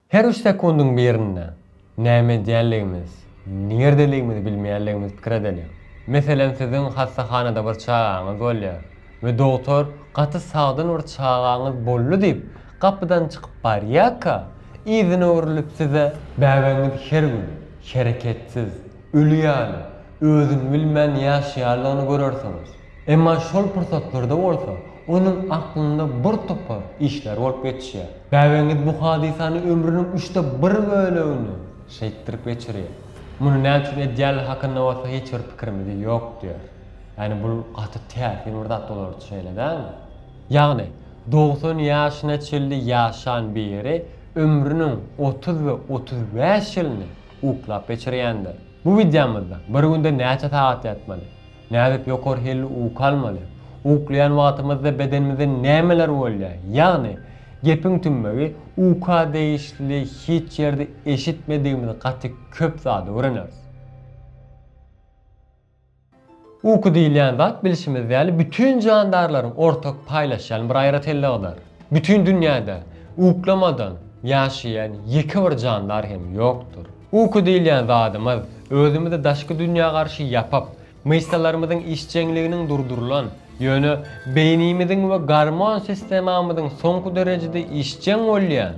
Her üç sekundyň birinde näme edýänligimiz, nirdeligimizi bilmeýänligimiz pikir edeliň. Meselem siziň hassahanada bir çagaňyz bolýar we dogtor gaty sagdyn bir çagaňyz boldy diýip gapydan çykyp barýarka, yzyna öwrülip size, Bäbegiňiz her gün hereketsiz, öli ýaly, özüni bilmän ýaşaýanlygyny görersiňiz. Emma şol pursatlarda bolsa onuň aklynda bir topar işler bolup geçýär. Bäbegiňiz bu hadysany ömrüniň üçde bir bölegini şeýtdirip geçirýär. Muny näçün edýänligi hakynda bolsa hiç bir pikirimiz ýok diýýär. Ýagny bul gaty täsin bir zat bolar üçin şeýle dälmi? Ýagny, dogsan ýaşyna çenli ýaşan biri ömrüniň otuz we otuz bäş ýylyny uklap geçirýändir. Bu wideomyzda bir günde näçe sagat ýatmaly? Nädip ýokary hilli uky almaly? Uklaýan wagtymyzda bedenimizde nämeler bolýar? Ýagny, gepiň tümmegi, uka degişli hiç ýerde eşitmedigimiz gaty köp zady öwreneris. Uky diýilýän zat bilşimiz ýaly bütin jandarlaryň ortak paýlaşýan bir aýratynlygydyr. Bütin dünýäde uklamadan ýaşaýan ýeke bir jandar hem ýokdur. Uky diýilýän zadymyz, özümizi daşky dünýä garşy ýapyp, myşsalarymyzyň işjeňliginiň durdurylan, ýöne beýnimiziň we gormon sistemamyzyň soňky derejede işjeň bolýan,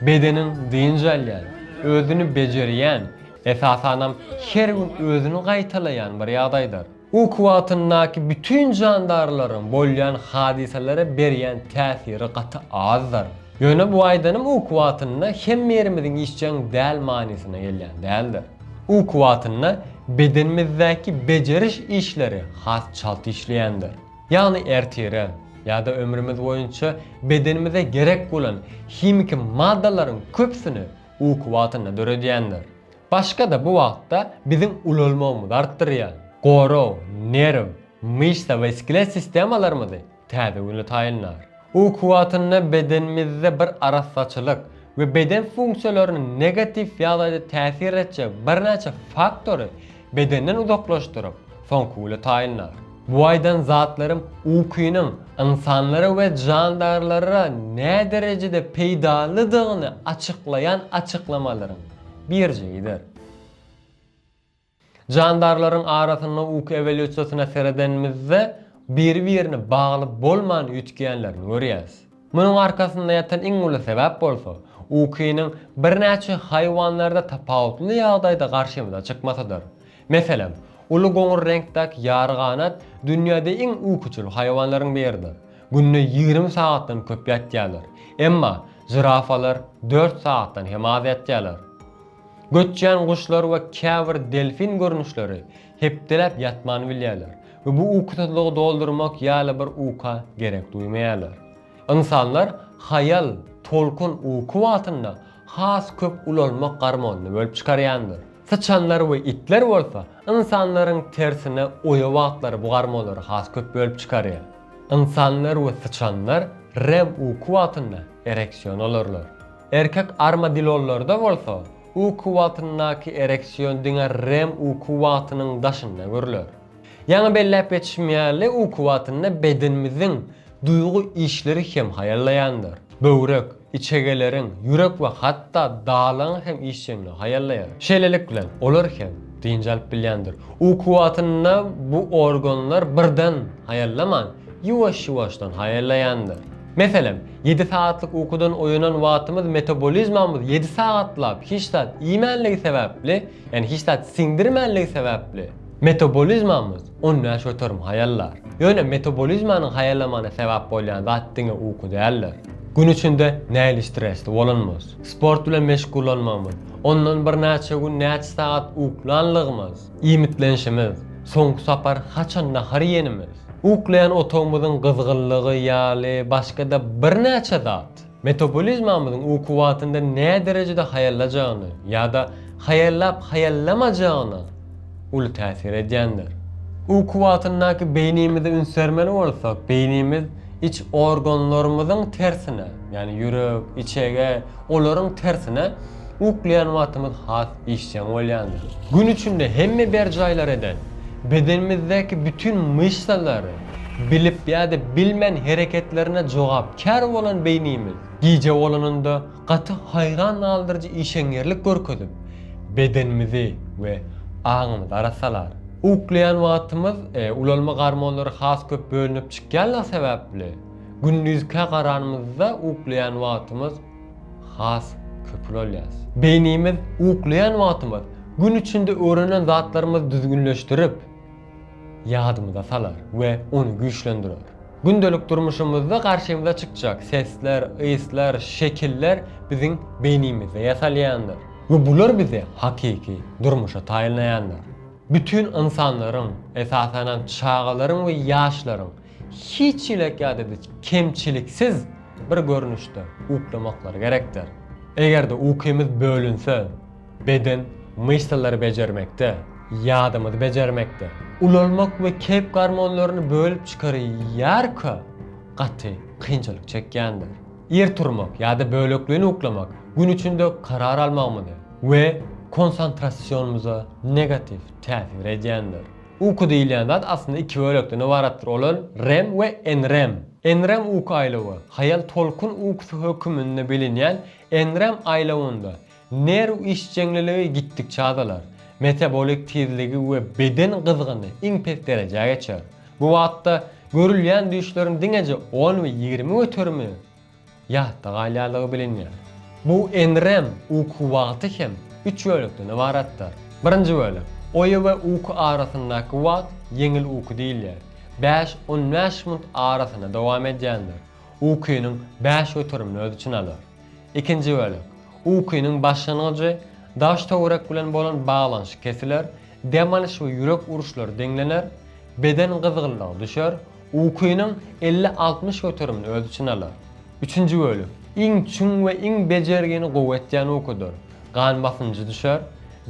bedeniň dynç alýan, özüni bejerýän, esasanam her gün özüni gaýtalaýan bir ýagdaýdyr. Uky wagtyndaky bütin jandarlaryň bolýan hadysalara berýän täsiri gaty azdyr. Ýöne bu aýdanym uky wagtynda hemme ýerimiziň işjeň däl manysyna gelýän däldir. Uky wagtynda bedenimizdäki bejeriş işleri has çalt işleýändir. Ýagny ertire, ýa-da ömrümiz boýunça bedenimize gerek bolan himiki maddalaryň köpüsini uky wagtynda döredýändir. Başga-da bu wagtda biziň ulalmagymyzy artdyrýan, gorag, nerw, myşsa we skelet sistemalarymyzy täze güne taýynlar. Uky wagtynda bedenimizde bir arassaçylyk we beden funksiýalaryna negatiw ýagdaýda täsir etjek birnäçe faktory bedenden uzaklaşdyryp, soňky güne taýynlar. Bu aýdan zatlarym ukynyň ynsanlara we jandarlara näderejede peýdalydygyny açyklaýan açyklamalaryň Birje gider. Jandarlaryň arasynda uky ewolýusiýasyna seredenimizde biri-birini bagly bolman üýtgeýänlerini görýäris. Munuň arkasynda ýatan iň uly sebäp bolsa, ukynyň birnäçe haýwanlarda tapawutly ýagdaýda garşymyza çykmasydyr. Meselem, uly goňur reňkdäki ýaryganat dünýäde iň ukuçyl haýwanlaryň biridir. Günde ýigrimi sagatdan köp ýatýarlar. Emma žirafalar dört sagatdan hem az ýatýarlar. Göçýän guşlar we käbir delfin görnüşleri hepdeläp ýatman bilýärler we bu ukusyzlygy doldurmak ýaly bir uka gerek duýmaýarlar. Ynsanlar haýal, tolkun uky wagtynda has köp ulanmak garmonyny bölüp çykarýandyr. Syçanlar we itler bolsa, ynsanlaryň tersine oýa wagtlary bu garmonlary has köp bölüp çykarýar. Ynsanlar we syçanlar REM uky wagtynda ereksion alarlar. Erkek armadillolarda bolsa, uky wagtyndaky ereksion diňe REM uky wagtynyň daşynda görüler. Ýaňy belläp geçişim ýaly, uky wagtynda bedenimiziň duýgy işleri hem haýallaýandyr. Böwrek, içegeleriň, ýürek we hatda dalagyň hem işjeňligi haýallaýar. Şeýlelik bilen, olar hem dynç alyp bilýändir. Uky wagtynda bu organlar birden haýallaman, ýuwaş-ýuwaşdan haýallaýandyr. Meselem, ýedi sagatlyk ukudan oýanan wagtymyz metabolizmamyz ýedi sagatlap hiç zat iýmänligi sebäpli, Ýani hiç zat siňdirmänligi sebäpli metabolizmamyz on bäş göterim haýallar. Ýöne metabolizmanyň haýallamagyna sebäp bolýan zat diňe uky däldir. Gün içinde nähili stresli bolanymyz, sport bilen meşgullanmagymyz, ondan birnäçe gün näçe sagat uklanlygymyz, iýmitlenişimiz, soňky sapar haçan nahar iýenimiz, uklaýan otagymyzyň gyzgynlygy ýaly başga-da birnäçe zat. Metabolizmamyzyň u kuwwatyndan näderejede haýallajagyna ýa-da haýallap-haýallamajagna uly täsir edýändir. U kuwwatyndaky beýnimizi ünsdermeli bolsak, beýnimiz iç organlarymyzyň tersine, ýagny ýürek, içege, olaryň tersine, Uklaýan wagtymyz has işjeň bolýandyr. Gün içinde hemme berjaýlar eden, bedenimizdäki bütin myşsalary bilip ýa-da bilmän hereketlerine jogapkär bolan beýnimiz, gije bolanynda gaty haýran galdyryjy işeňňirlik görkezip, bedenimizi we aňymyzy arassalar. Uklaýan wagtymyz ulalma gormonlary has köp bölünip çykýanlygy sebäpli, gündizkä garanymyzda uklaýan wagtymyz has köpüni alýas. Beýnimiz uklaýan wagtymyz gün içinde öwrenen zatlarymyzy düzgünleşdirip, ýadymyza salar we ony güýçlendirer. Gündelik durmuşymyzda garşymyza çykjak sesler, yslar, şekiller biziň beýnimizde ýasalýandyr we bular bizi hakyky durmuşa taýynlaýandyr. Bütin ynsanlaryň, esasanam çagalaryň we ýaşlaryň hiç çilek ýa-da biz kemçiliksiz bir görnüşde uklamaklary gerekdir. Eger-de ukymyz bölünse, beden myşsalary bejermekde, ýadymyzy bejermekde, ulalmak we keýp gormonlaryny bölüp çykarýarka gaty kynçylyk çekýändir. Ir turmak ýa-da bölekleýin uklamak gün içinde karar almagymyzy we konsantrasionymyza negatiw täsir edýändir. Uky diýilýän zat aslynda iki bölekden ybaratdyr, olar rem we NREM. NREM uky aýlawy, haýal tolkun ukusy höküminde bilinýän NREM aýlawynda nerw işjeňliligi gitdikçe azalar, metabolik tizligi we beden gyzgyny iň pes derejä geçer. Bu wagtda görülýän düýşleriň diňeje on we ýigrimi göterimi ýatda galýanlygy bilinýär. Bu enrem uky wagty hem üç bölekden ybaratdyr. Birinji bölek, oýa we uky arasyndaky wagt ýeňil uky diýilýär. Bäş, on bäş minut arasynda dowam edýändir. Ukynyň bäş göterimini öz içine alar. Ikinji bölek, ukynyň başlangyjy, daş-töwerek bilen bolan baglanyşyk kesiler, dem alyş we ýürek uruşlary deňlener, beden gyzgynlygy düşer, Ukynyň elli-altmyş göterimini öz içine alar. Üçünji bölek, iň çuň we iň bejergini gowy etýän ukydyr. Gan basynjy düşer,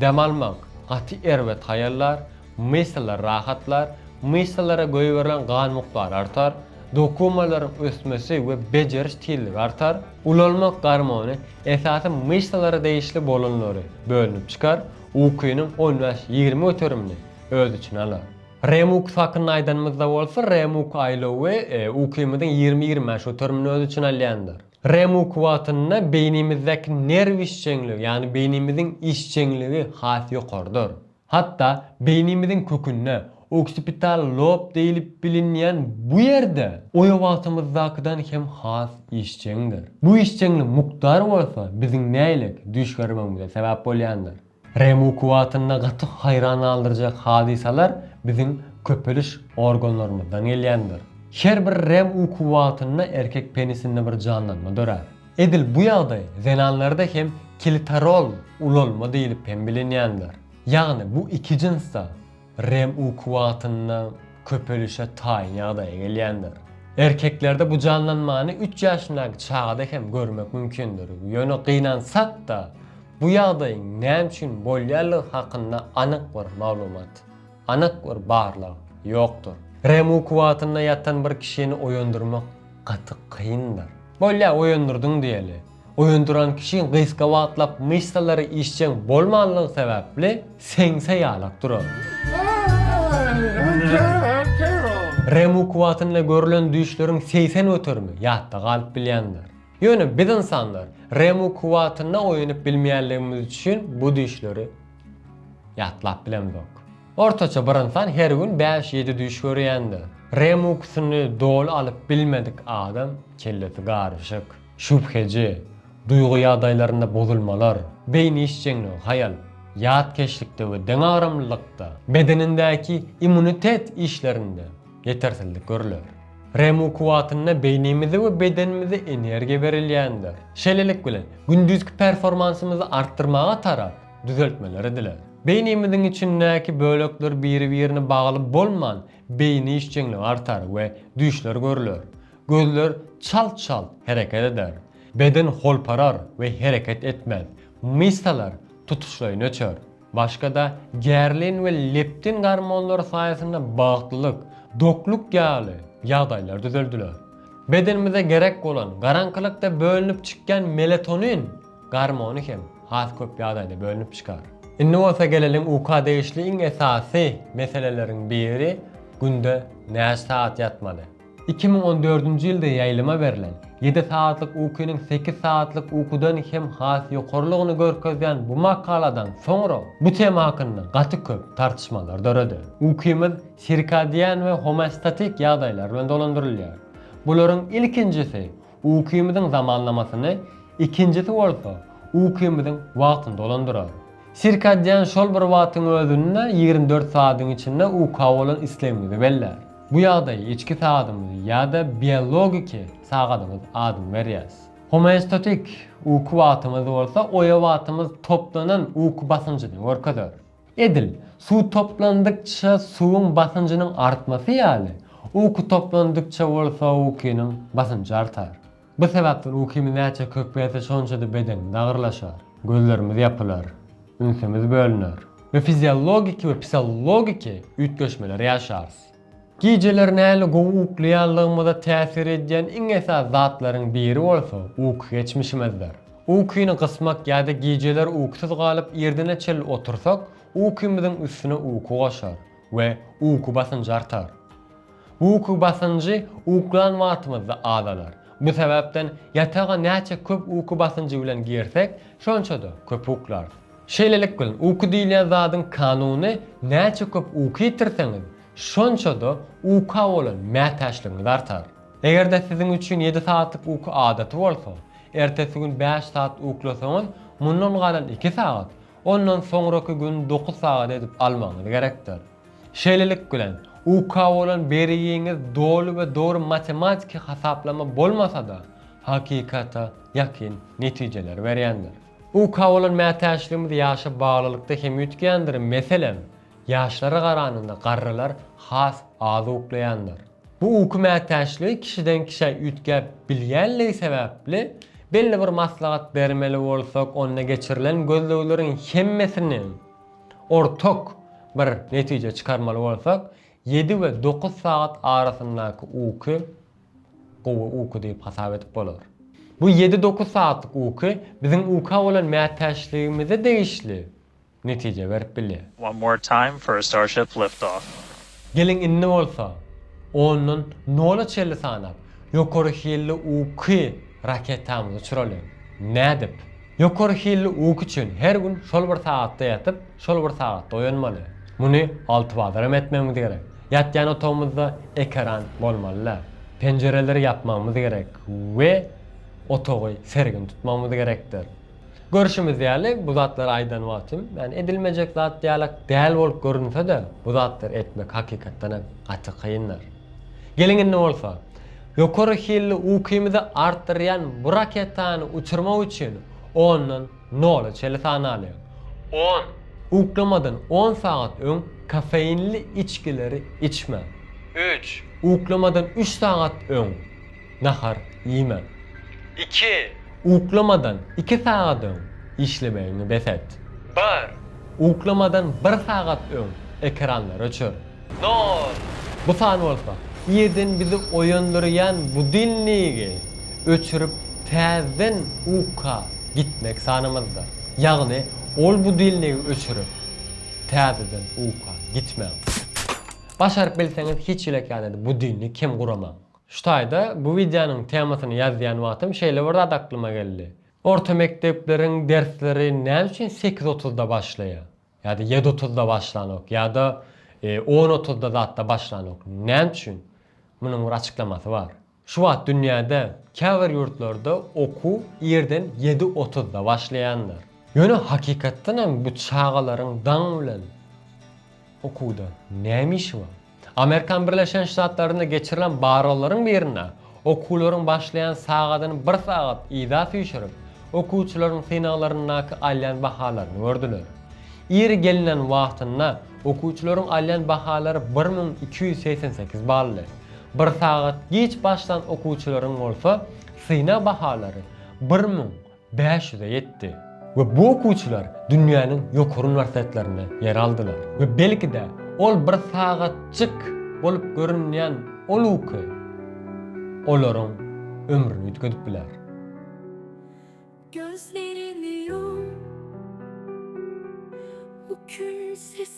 dem almak gaty erbet haýallar, myşsalar rahatlar, myşsalara goýberilen gan mukdary artar, dokumalaryň ösmesi we bejeriş tizligi artar, ulalmak gormony, esasy myşsalara degişli bolanlary, bölünip çykar, ukynyň on bäş-ýigrimi göterimini öz içine alar. Remux hakynda aýdanymyzda bolsa, Remux aýlawy ukymyzyň ýigrimi-ýigrimi bäş göterimini öz içine alýandyr. Remux wagtynda beýnimizdäki nerw işjeňligi, ýagny beýnimiziň işjeňligi has ýokarydyr. Hatda beýnimiziň kökünde, oksipital lob diýlip bilinýän bu ýerde oýa wagtymyzdakydan hem has işjeňdir. Bu işjeňlik mukdary bolsa biziň näýlek düýş görmegimize sebäp bolýandyr. REMU kuwwatynda gaty haýran galdyrjak hadysalar biziň köpeliş organlarymyzdan gelýändir. Her bir REMU kuwwatynda erkek penisinde bir janlanma dörär. Edil bu ýagdaý zenanlarda hem klitoral ulalma diýlip hem bilinýändir. Ýagny bu iki jynsda Rem ukuwagtynda köpelişe taýyn ýagdaýa gelýändir. Erkeklerde bu janlanmany üç ýaşyndaky çagada hem görmek mümkindir. Ýöne gynansak-da, bu ýagdaýyň näme üçin bolýanlygy hakynda anyk bir maglumat, anyk bir barlag ýokdur. Rem ukuwagtynda ýatan bir kişini oýandyrmak gaty kyndyr. Bolýar, oýandyrdyň diýeli. Oýandyran kişi gysga wagtlap myşsalary işjeň bolmanlygy sebäpli seňse ýalak durar. REM ukuwagtynda görlen düýşleriň segsen göterimi ýatda galyp bilýändir. Ýöne biz ynsanlar REM ukuwagtynda oýanyp bilmeýänligimiz üçin bu düýşleri ýatlap bilemzok. Ortaça bir ynsan her gün bäş-ýedi düýş görýändir. REM ukusyny doly alyp bilmedik adam kellesi garyşyk. Şübheji, duýgy ýagdaýlarynda bozulmalar, beýni işjeňligi, haýal, ýatkeşlikde we deňagramlylykda. Bedenindäki immunitet işlerinde ýetersizlik görüler. REM uky wagtynda beýnimize we bedenimize energiýa berilýändir. Şeýlelik bilen, gündizki performansymyzy artdyrmaga tarap düzeltmeler ediler. Beýnimiziň içindäki bölekler biri-birine bagly bolman, beýni işjeňligi artar we düýşler görüler. Gözler çalt-çalt hereket eder. Beden holparar we hereket etmez. Myşsalar tutuşlaýyn öçer. Başga-da gerlin we leptin gormonlary saýasynda bagtlylyk, dokluk ýaly ýagdaýlar düzeldiler. Bedenimize gerek bolan garaňkylykda bölünip çykýan melatonin gormony hem has köp ýagdaýda bölünip çykar. Indi bolsa geleliň uka degişli iň esasy meseleleriň biri günde näçe sagat ýatmaly? Iki müň on dördünji ýylda ýaýlyma berlen, ýedi sagatlyk ukynyň sekiz sagatlyk ukudan hem has ýokarylygyny görkezýän bu makaladan soňra bu tema hakynda gaty köp tartyşmalar döredi. Ukymyz sirkadian we homeostatik ýagdaýlar bilen dolandyrylýar. Bularyň ilkinjisi Ukymyzyň zamanlamasyny ikinjisi bolsa ukymyzyň wagtyny dolandyrar. Sirkadian şol bir wagtyň özünde ýigrimi dört saadyň içinde uka bolan islegimizi bellär. Bu ýagdaýa içki sagadymyz ýa-da biologiki sagadymyz adyny berýäs. Homeostatik uky wagtymyz bolsa oýa wagtymyz toplanan uky basynjyny görkezer. Edil, suw toplandykça suwuň basynjynyň artmasy ýaly, uky toplandykça bolsa ukynyň basynjy artar. Bu sebäpden ukymyz näçe köpelse şonça-da bedenimiz agyrlaşar, gözlerimiz ýapylar, ünsümiz bölüner we fiziologiki we psihologiki üýtgeşmeleri ýaşarys. Gijeler nähili gowy uklaýanlygymyza täsir edýän iň esasy zatlaryň biri bolsa uky geçmişimizdir. Ukyny gysmak ýa-da gijeler ukusuz galyp irdene çenli otursak, ukymyzyň üstüne uky goşar we uky basynjy artar. Bu uky basynjy uklan wagtymyzda azalar. Bu sebäpden ýataga näçe köp uky basynjy bilen girsek, şonça-da köp uklarys. Şeýlelik bilen, uky diýilýän zadyň kanuny näçe köp uky ýitirseňiz, şonça-da uka bolan mätäçligiňiz artar. Eger-de siziň üçin ýedi sagatlyk uky adaty bolsa, ertesi gün bäş sagat uklasaňyz, mundan galan iki sagat, ondan soňraky gün dokuz sagat edip almagyňyz gerekdir. Şeýlelik bilen, uka bolan berigiňiz doly we dogry matematiki hasaplama bolmasa-da, hakykata ýakyn netijeleri berýändir. UK bolan mätäçligimiz ýaşa baglylykda hem üýtgändir, meselem, ýaşlara garanyňda garrylar has az uklaýandyr. Bu uky mätäçligi kişiden kişä üýtgäp bilýänligi sebäpli, belli bir maslahat bermeli bolsak, onda geçirilen gözlegleriň hemmesini ortak bir netije çykarmaly bolsak, ýedi we dokuz sagat arasyndaky uky, gowy uky diýip hasap edip bolar. Bu ýedi-dokuz sagatlyk uky biziň uka bolan mätäçligimize degişli netije berip bilýär. One more time for a Starship liftoff. Geliň indi bolsa, ondan nola çenli sanap, ýokary hilli uky raketamyzy uçuralyň. Nädip? Ýokary hilli uky üçin her gün şol bir sagatda ýatyp, şol bir sagatda oýanmaly. Muny altybazaram etmegimiz gerek. Ýatýan otagymyzda ekeran bolmaly-da. Penjireleri ýapmagymyz gerek we otagy sergin tutmagymyz gerekdir. Görşümiz ýaly, bu zatlary aýdan wagtym, ýagny edilmejek zat ýalak däl bolup görünse-de, bu zatlary etmek hakykatdan hem gaty kyndyr. Geliň indi bolsa, Ýokary hilli ukymyzy artdyrýan bu raketany uçurmak üçin ondan nola çeli sanalyň. On. Uklamadan on sagat öň kofeinli içgileri içmäň. Üç. Uklamadan üç sagat öň nahar iýmäň. Iki. Uklamadan iki sagat öň işlemegiňi bes et. Bir. Uklamadan bir sagat öň ekranlary öçür. Nol. Bu san bolsa, irden bizi oýandyrýan budilnigi öçürip täzeden uka gitmek sanymyzdyr. Ýagny ol budilnigi öçürip täzeden uka gitmäň. Başaryp bilseňiz hiç ýylak ýalyda budilnik hem guramaň. Şu taýda bu wideonyň temasyny ýazýan wagtym şeýle bir zat aklyma geldi. Orta mekdepleriň dersleri näme üçin sekiz otuzda başlaýar? Ýa-da ýedi otuzda başlanok, ýa-da on otuzda zatda başlanok. Näme üçin? Munuň bir açyklamasy bar. Şu wagt dünýäde käbir ýurtlarda okuw irden ýedi otuzda başlaýandyr. Ýöne hakykatdan hem bu çagalaryň daň bilen okuwda näme işi bar? Amerikan Birleşen Ştatlarynda geçirilen barlaglaryň birinde okuwlaryň başlaýan sagadyny bir sagat yza süýşürip, okuwçylaryň synaglaryndaky alýan bahalaryny gördüler. Ir gelinen wagtynda okuwçylaryň alýan bahalary bir müň iki ýüz segsen sekiz baldy. Bir sagat giç başlan okuwçylaryň bolsa synag bahalary bir müň bäş ýüze ýetdi we bu okuwçylar dünýäniň ýokary uniwersitetlerinde ýer aldylar we belki-de ol bir sagatjyk bolup görünýän ol uky olaryň ömrüni üýtgedip biler. Gözlerimi ýum, bu gün sesiň.